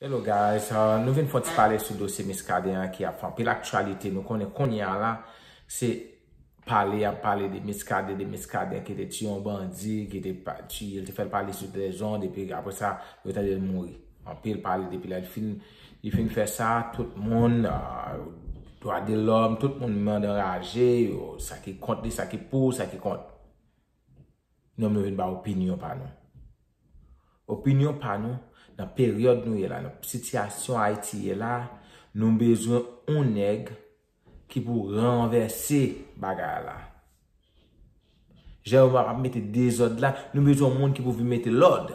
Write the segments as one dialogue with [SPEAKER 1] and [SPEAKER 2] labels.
[SPEAKER 1] Hello guys, nou vin fon ti pale sou dosye Miskaden an ki ap fè anpil aktyalite, nou konnen kounye a la se pale yap pale de Miskaden, de Miskaden ki te tiye yon bandi, ki te tiye l, te fè l pale sou trezon, depi aprè sa yo tande l mouri. Anpil pale depi lè l fin, li fin fè sa, tout moun, dwa de lòm, tout moun mande anraje, yo sa ki kont li, sa ki pou, sa ki kont. Nou menm nou vin bay opinyon pa nou. Opinyon pa nou nan peryòd nou ye la, nan sitiyasyon Ayiti ye la, nou bezwen yon nèg ki pou ranvèse bagay la. Jan yo ap mete dezòd la, nou bezwen yon moun ki pou vin mete lòd.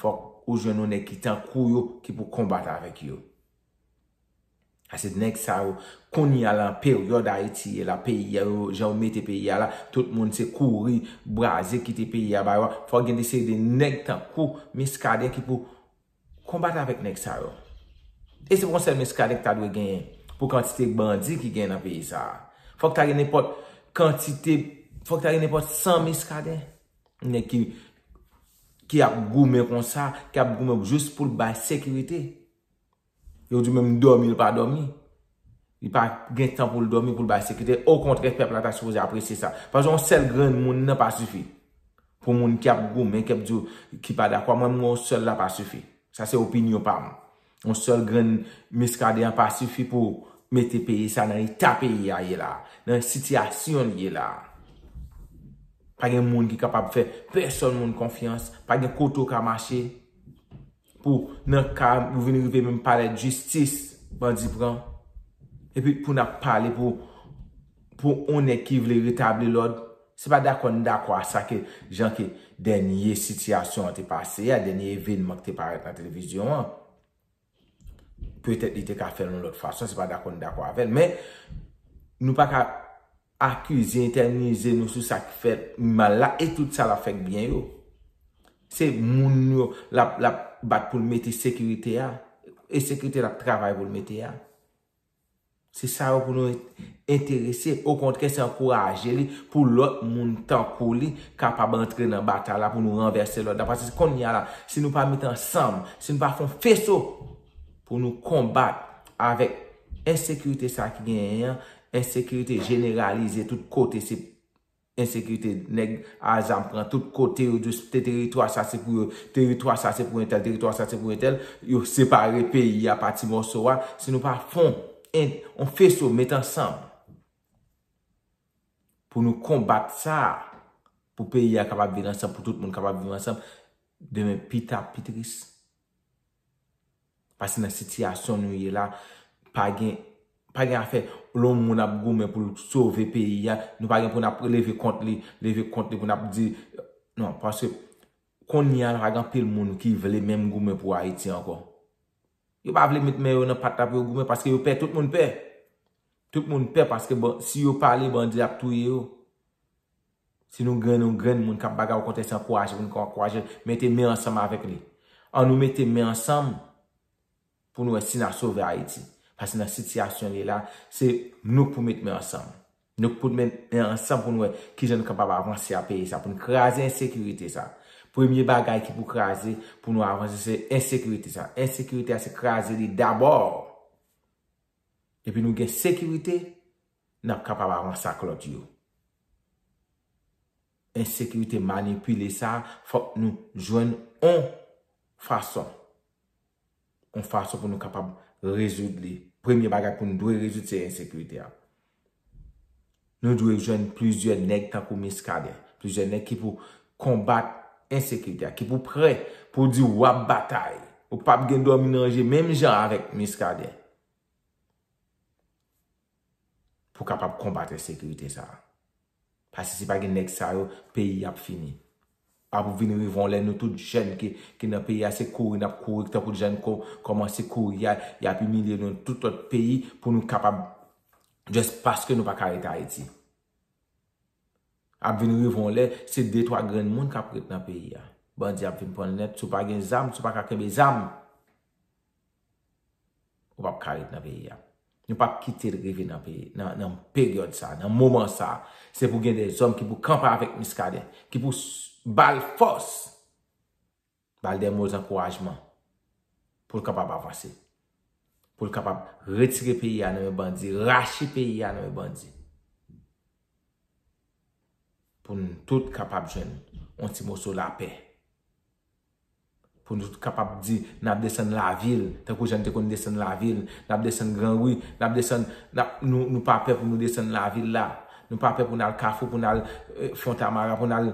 [SPEAKER 1] Fòk ou jwenn yon nèg ki tankou yo ki pou konbat avèk yo. Ase nèg sa yo, kounye a la an peryòd Ayiti ye la, peyi a yo, jan yo mete peyi a la, tout moun se kouri, braze kite peyi a ba yo, fòk gen de seri de nèg tankou Miskaden ki pou konbat avèk nèg sa yo. E se pa yon sèl Miskaden ki ta dwe genyen pou kantite bandi ki genyen nan peyi sa a. Fòk ta gen nenpòt kantite, fòk ta gen nenpòt 100 Miskaden Nèg ki ki ap goumen konsa, ki ap goumen jous pou l bay sekirite. Yo di menm dòmi l pa dòmi. Li pa gen tan pou l dòmi pou l bay sekirite. Okontrè pèp la ta sipoze apresye sa. Paske yon sèl grenn moun nan pa sifi. Pou moun ki ap goumen, ki ap di yo ki pa dakò. Mwen menm yon sèl la pa sifi. Sa se opinyon pa m. Yon sèl grenn Muscadin an pa sifi pou mete peyi sa nan eta peyi a ye la. Nan sitiyasyon li ye la. Pa gen moun ki kapab fè pèsòn moun konfyans. Pa gen kote ou ka mache pou nan ka ou vin rive menm palè jistis bandi pran. Epi pou n ap pale pou yon nèg ki vle retabli lòd. Se pa dakò n dakò a sa ke jan ke dènye sitiyasyon an te pase a, dènye evenman ki te parèt nan televizyon an. Petèt li te ka fè l yon lòt fason, se pa dakò n dakò avè l. Men, nou pa ka akize, etènize nou sou sa ki fèt mal la e tout sa l ap fè k byen yo. Se moun yo l ap bat pou l mete sekirite a e sekirite l ap travay pou l mete a. Se sa yo pou nou enterese, okontrè se ankouraje li pou lòt moun tankou li kapab antre nan batay la pou nou ranvèse lòd la. Paske konnya la, si nou pa met ansanm, si nou pa fè yon feso pou nou konbat avèk ensekirite sa ki genyen an, ensekirite jeneralize tout kote se Ensekirite nèg a zam pran tout kote yo jus te teritwa sa se pou yo teritwa sa se pou entèl teritwa sa se pou entèl yo separe peyi a pa ti mòso a si nou pa fon en on feso met ansanm pou nou konbat sa pou peyi a kapab vin ansanm pou tout moun kapab viv ansanm demen pita pi tris Pase nan sitiyasyon nou ye la, pa gen, pa gen afè, lon moun ap goumen pou l sove peyi a, nou pa gen pou n ap leve kont li, leve kont li pou n ap di, non, pase, kounye a pa gen anpil moun ki vle menm goumen pou Ayiti ankò. Yo pa vle met men yo nan pat la pou yo goumen, paske yo pè, tout moun pè. Tout moun pè, paske si yo pale, bandi ap touye yo. Si nou gen yon grenn moun k ap bagay okontrè se ankouraje pou nou ka ankouraje l, mete men ansanm avèk li. An nou mete men ansanm pou nou wè si n a sove Ayiti. Pase nan sitiyasyon li ye la, se nou k pou met men ansanm. Nou k pou met men ansanm pou nou wè ki jan nou kapab avanse a peyi sa, pou nou kraze ensekirite sa. Premye bagay ki pou kraze pou nou avanse se ensekirite sa. Ensekirite a se kraze li dabò. Depi nou gen sekirite, Nap kapab avanse ak lòt yo. Ensekirite manipile sa a fòk nou jwenn on fason. On fason pou nou kapab rezoud li. Premye bagay pou nou dwe rezoud se ensekirite a. Nou dwe jwenn plizyè nèg tankou Miskaden. Plizyè nèg ki pou konbat ensekirite a. Ki pou prè pou di wap batay. Ou pap gen dòmi nan je menm jan avèk Miskaden. pou kapab konbat ensekirite sa a. Pase si pa gen nèg sa yo, peyi a ap fini. Pa pou vin rive yon lè nou tout jèn ki nan peyi a se kouri n ap kouri tankou jan nou kòmanse kouri a, y ap imilye nou nan tout lòt peyi pou nou kapab just paske nou pa ka rete Ayiti. Ap vin rive yon lè, se de twa grenn moun k ap ret nan peyi a. Bandi ap vin pran l nèt. Si w pa gen zam, si w pa ka kenbe zam. Ou pap ka ret nan peyi a. Nou pap kite l rive nan peyi, nan peryòd sa, nan moman sa. Se pou gen de zòm ki pou kanpe avèk Miskaden. Ki pou ba l fòs. Ba l de mo zankourajman. Pou l kapab avanse. Pou l kapab retire peyi a nan men bandi. Rache peyi a nan men bandi. Pou nou tout kapab jwenn. On ti moso lapè. Pou nou tout kapab di, n ap desann lavil, tankou jan n te konn desann lavil. N ap desann gran ri, n ap desann, n ap, nou, nou pa pè pou nou desann lavil la. Nou pa pè pou n al Kafou, pou n al Fontamara, pou n al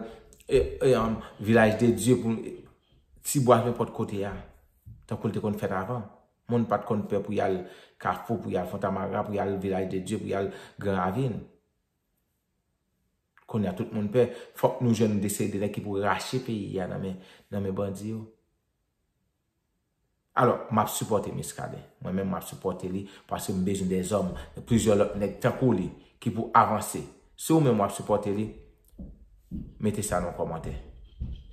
[SPEAKER 1] Vilaj de Dye, pou n, Ti Bwa, nenpòt kote a. Tankou l te konn fèt avan. Moun pa t konn pè pou y al Kafou, pou y al Fontamara, pou y al Vilaj de Dye, pou y al Gran Ravin. Kounye a tout moun pè. Fòk nou jwenn desede nèg ki pou rache peyi a nan men bandi yo. Alò, m ap sipòte Miskaden. Mwen menm m ap sipòte li paske m bezwen de zòm, plizyè lòt nèg tankou li ki pou avanse. Si ou menm w ap sipòte li, mete sa nan kòmantè.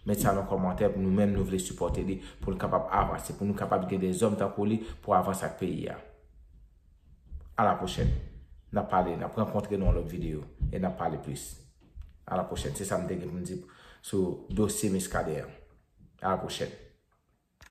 [SPEAKER 1] Mete sa nan kòmantè pou nou menm nou vle sipòte li pou nou kapab avanse, pou nou kapab gen de zòm tankou li pou avanse ak peyi a. A la pwochèn. N ap pale, n ap rankontre nan yon lòt videyo e n ap pale plis. A la pwochèn. Se sa m te gen pou m di sou dosye Miskaden an. A la pwochèn.